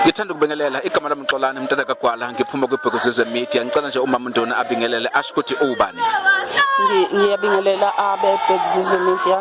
ngithanda ukubingelela igama lami Mxolani mntana kaGwala ngiphuma kwibhekuzizwe media ngicela nje umama uNduna abingelele asho ukuthi ubani ngiyabingelela abe bhekuzizwe media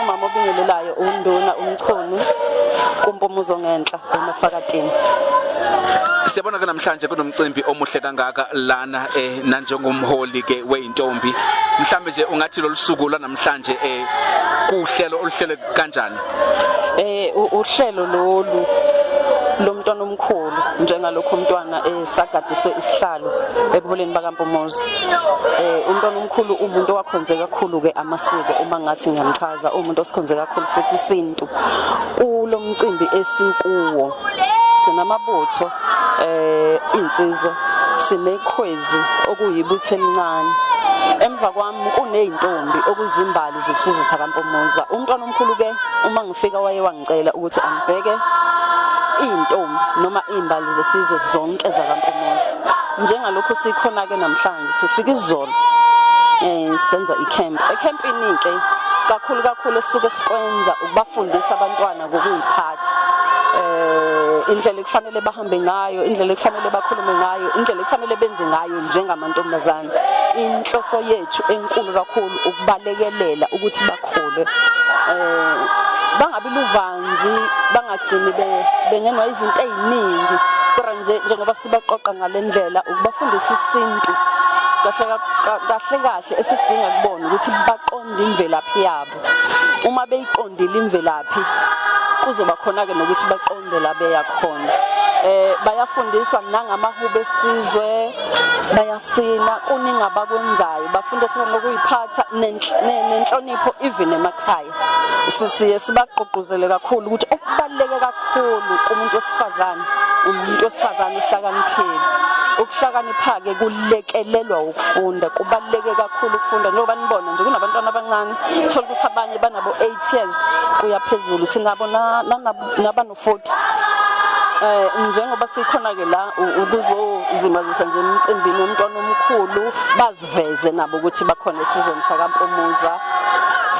umama obingelelayo uNduna umchunu kumpumuzo ngenhla emafakatini siyabona ke namhlanje kunomcimbi omuhle kangaka lana eh nanjengomholi ke weintombi mhlambe nje ungathi lolusuku lwanamhlanje eh kuhlelo oluhlele kanjani eh uhlelo lolu lomntwana omkhulu njengalokho umntwana esagadiswe eh, isihlalo ebuholeni bakaMpumozi eh umntwana omkhulu umuntu owakhonze kakhulu ke amasiko uma ngathi ngiyamchaza umuntu osikhonze kakhulu futhi sini abantu kulo mcimbi esikuwo sinamabutho eh insizwa sinekhwezi okuyibuthe elincane emva kwami kuneyintombi okuzimbali zesizwe sakampumuza umntwana omkhulu ke uma ngifika waye wangicela ukuthi angibheke iy'ntombi noma iy'mbali zesizwe zonke zakampumuza njengalokhu sikhona-ke namhlanje Sifika izolo eh senza icamp. Ecampini ke kakhulu kakhulu esisuke sikwenza ukubafundisa abantwana ngokuyiphatha. Eh indlela ekufanele bahambe ngayo, indlela ekufanele bakhulume ngayo, indlela ekufanele benze ngayo njengamantombazane. Inhloso yethu enkulu kakhulu ukubalekelela ukuthi bakhule. Eh bangabi luvanzi bangagcini bengenwa izinto eziningi kodwa nje njengoba sibaqoqa ngale ndlela ukubafundisa isintu kahle kahle kahle esidinga kubona ukuthi baqonde imvelaphi yabo uma beyiqondile imvelaphi kuzoba khona-ke nokuthi baqonde la beya khona eh bayafundiswa nangamahubo esizwe bayasina kuningi abakwenzayo bafundiswa ngokuyiphatha nenhlonipho even emakhaya sisiye sibagqugquzele kakhulu ukuthi okubaluleke kakhulu kumuntu wesifazane umuntu wesifazane uhlakaniphile ukuhlakanipha-ke kulekelelwa ukufunda kubaluleke kakhulu ukufunda njengoba nibona nje kunabantwana abancane thole ukuthi abanye banabo-eight years kuya phezulu sinabo futhi eh njengoba sikhona ke la ukuzozimazisa nje emcimbini womntwana omkhulu baziveze nabo ukuthi bakhona esizweni sakaMpumuza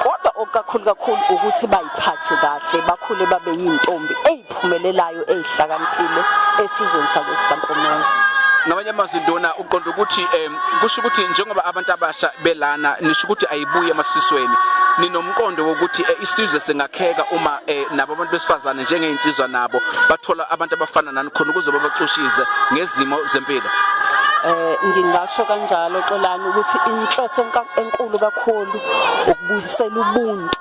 kodwa okukakhulu kakhulu ukuthi bayiphathe kahle bakhule babe yintombi eyiphumelelayo eyihlakaniphile esizweni sakuthi kaMpumuza ngamanye amazwi ndona uqonda ukuthi um kusho ukuthi njengoba abantu abasha belana nisho ukuthi ayibuye emasisweni ninomqondo wokuthi eh, isizwe singakheka uma eh, nabo abantu besifazane njengey'nsizwa nabo bathola abantu abafana nani khona ukuze babacushize ngezimo zempilo eh ngingasho kanjalo xolani ukuthi inhloso enkulu kakhulu ukubuyisela ubuntu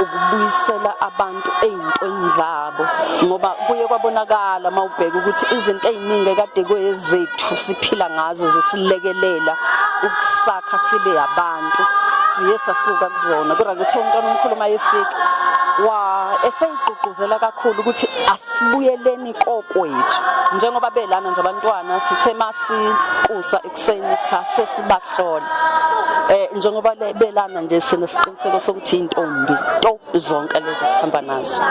ukubuyisela abantu ey'ntweni zabo ngoba kuye kwabonakala uma ubheka ukuthi izinto ey'ningi ekade kweyezethu siphila ngazo zisilekelela ukusakha sibe abantu izinto siye sasuka kuzona kodwa kuthe umntwana omkhulu uma efika wa eseyigqugquzela kakhulu ukuthi asibuyeleni kokwethu njengoba belana nje abantwana sithe masikusa ekuseni sase sibahlola eh njengoba belana nje sinesiqiniseko sokuthi intombi to zonke lezi sihamba nazo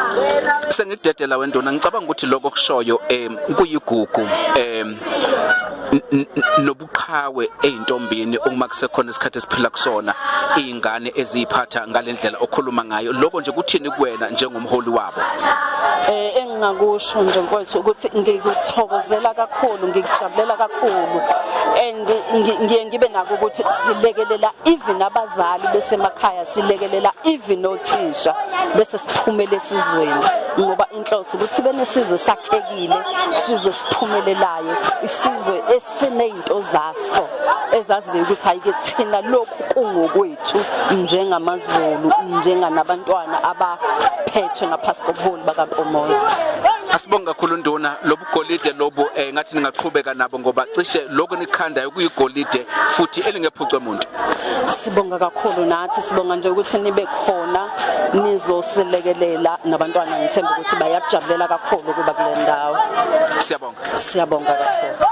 sengidedela wendona ngicabanga ukuthi lokho kushoyo em kuyigugu em qhawe ezintombini uma kusekhona isikhathi esiphila kusona izingane eziyiphatha ngalendlela okhuluma ngayo lokho nje kuthini kuwena njengomholi wabo eh engingakusho nje mfowethu ukuthi ngikuthokozela kakhulu ngikujabulela kakhulu and ngiye ngibe nako ukuthi silekelela even abazali besemakhaya silekelela even othisha bese siphumele esizweni ngoba inhloso ukuthi benesizwe sakhekile isizwe siphumelelayo isizwe sinezinto zaso ezaziyo ukuthi ayike thina lokhu kungokwethu njengamazulu njenganabantwana abaphethwe ngaphasi kobuholi bakaMpomozi Asibonge kakhulu nduna lobugolide lobu eh, ngathi ningaqhubeka nabo ngoba cishe lokho nikhanda ukuyigolide futhi elingephucwe umuntu. Sibonga kakhulu nathi sibonga nje ukuthi nibe khona nizosilekelela nabantwana ngithemba ukuthi bayakujabulela kakhulu kuba kule ndawo. Siyabonga. Siyabonga kakhulu.